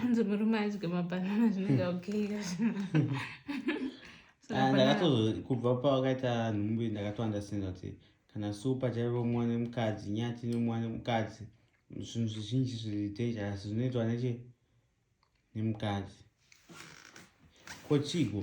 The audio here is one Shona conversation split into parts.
hanzi murume adye mabanana zvinenge okay ah, ndakatozokubva pawakaita nhumbi ndakatoandastanda kuti kana supa chaivo mwana mukadzi nyati nemwana mukadzi zvinhu zvizhinji zviri dangerous zvinoitwa neche nemukadzi kochigo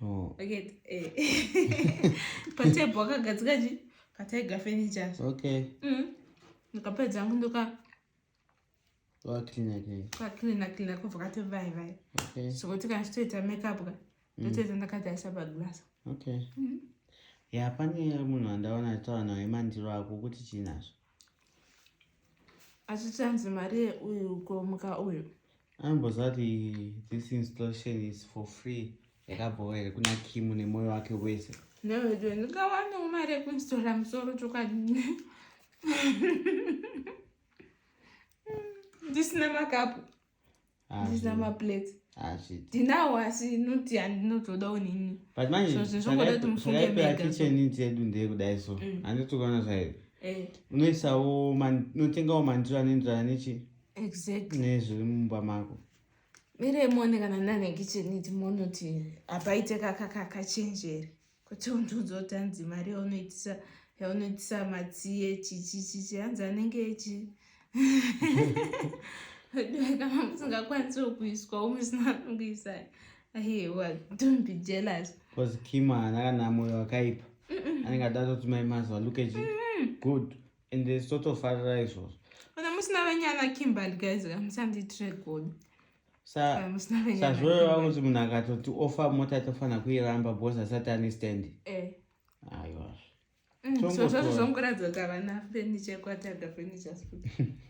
Oh. Okay. Eh. Patebo wakagadzika chi? Pataiga furniture. Okay. Mm. Nikapedza hangu ndoka wa clean again. Kwa clean clean kwa vakati vai vai. Okay. So kuti kana chitoita makeup ka. Mm. Ndotoita ndakataisa pa glass. Okay. Mm. Ya pane munhu andaona tawana emandiro ako kuti chinazvo. achichanzi mari yeuyu ukomuka uyu ambozati this installation is for free yakabhowa here kuna kimu nemoyo wake wese newedo ndingawanewo mari yekuinstora musoro chokwadi ndisina makapu ndisina maplates ndinawo asi noti handinotodawo nini but manjekitchen dzedu ndeye kudai so mm. handitokuona zvairi eh. unoisawo unotengawo mandiro anoenderana nechi exactly nezviri mumba mako miremone kana nane kitchen iti monoti hapaite kakakakachenjeri kuti undiudza kuti hanzi mari yaunoitisa yaunoitisa matsiye chichichichi hanzi anenge echi kana musingakwanisiwo kuiswa umwe sina kuisa aiwa don't be jealous bcause kim haana kana moyo wakaipa anenge adatoti mai mazuva look at you good and totofarira izvozvo kana musina venyana kimberly guys kamusandiitire godo sazvoyo vakuti munhu akatoti ofa mota tofanira kuiramba bos asati ane standi eh. aiwa mm, zvozvazvo zvongoratidza kuti havana fenicha ekwataga fenichas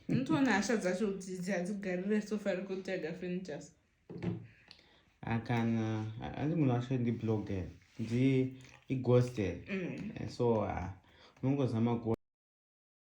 unotoona hasha dzacho kuti hadzigarire sofa rekutaga fenichas akana hanzi munhu wacho ndiblogger ndi igoster mm. eh, so ah, unongozama